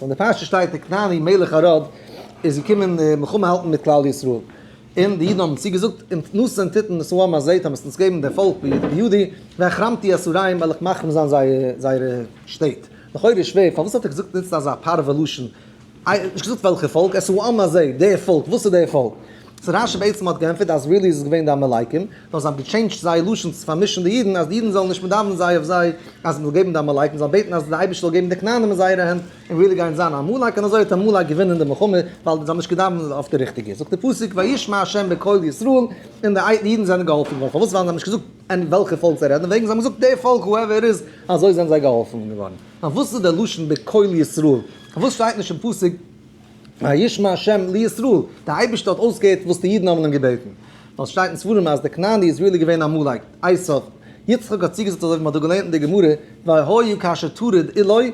אין די פרשה שטייט די כנעני מלך ארעד איז געקומען מלחמה האלטן מיט כלל ישראל, און די אידן האבן צו געזאגט אונז נאסן טיטן וואס אוהמא זעהט אז מ'עט אונז געבן די פאלק בידי, והחרמתי אסוריים וועל איך מחרים זיין זייערע שטעט, לכאורה איז שווער פארוואס האט ער געזאגט נוצט אזא פרווה לשון, נישט געזאגט וועלכע פאלק, עס אוהמא זעהט די פאלק, וואס איז די פאלק? צו רש י בעצם האט גענטפערט אז רילי איז עס געווען די עמלקים, נאר זיי האבן געטשעינדזשט זייער לשון צו פארמישן די אידן אז די אידן זאלן נישט מען דאווענען זיי אויף זיי אז מען זאל געבן די עמלקים מען זאל בעטן אז די אייבערשטער זאל געבן די כנענים אין זייערע הענט און רילי גייען זיין א עמלק און אזוי האט עמלק געווינען די מלחמה ווייל זיי האבן נישט געדאווענט אויף די ריכטיגע זאגט די פסוק וישמע ה' בקול ישראל און די אידן זענען געהאלפן געווארן פארוואס ווייל זיי האבן נישט געזאגט אין וועלכע פאלק זיי רעדן וועגן זיי האבן געזאגט די פאלק הועווער איז אזוי זענען זיי געהאלפן געווארן נאר וואס איז די לשון בקול ישראל וואס שטייט נישט אין פסוק. וישמע ה' לישראל, דער אייבערשטער האט אויסגעהערט וואס די אידן האבן אים געבעטן, ווייל עס שטייט אין ספרים אז דער כנעני איז ריעלי געווען א עמלק, עשיו, יצחק האט צוגעזאגט אזוי ווי מען האט דא געלערנט אין די גמרא, והיה כאשר תוריד עילוי,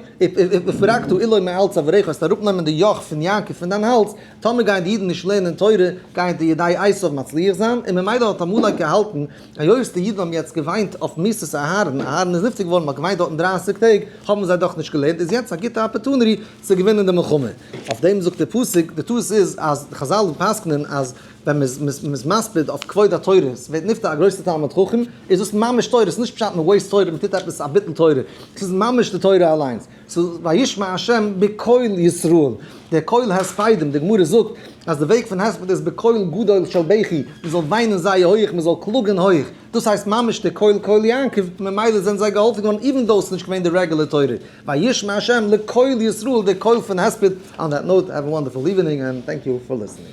ופרקתו עילוי מעל צוואריך, וועסט אראפנעמען די יאך פון יעקב פון דיין האלז, טאמער גייען די אידן נישט לערנען תורה, גייען די ידי עשיו מצליח זיין, און ממילא האט עמלק געהאלטן, היות די אידן האבן יעצט געוויינט אויף מיתת אהרן, אהרן איז נפטר געווארן, מען האט געוויינט דארטן דרײַסיק טעג, האבן זיי דאך נישט געלערנט, איז יעצט א גוטע אפערטונעטי, צו געווינען די מלחמה. אויף דעם זאגט דער פסוק, די טעות איז אז די חזל פסק'נען אז ווען מען איז מספיד אויף כבוד התורה, עס ווערט נפטר א גרויסע תלמיד חכם, איז דאס ממש תורה, עס איז נישט פשט מען וועיסט תורה, מען טוט עפעס א ביטול תורה, עס איז ממש די תורה אליינס, עס איז וישמע ה' בקול ישראל, דער קול הספדים, די גמרא זאגט אז די וועג פון הספד איז בקול גדול של בכי, מען זאל וויינען זייער הויעך, מען זאל קלאגען הויעך, דאס הייסט ממש דער קול קול יעקב, ממילא זענען זיי געהאלפען געווארען איווען דאו עס איז נישט געווען די רעגולער תורה. וישמע השם לקול ישראל די קול פון הספד. אן דעט נאוט, האוו א וואנדערפול איווענינג, ענד טענק יו פאר ליסענינג.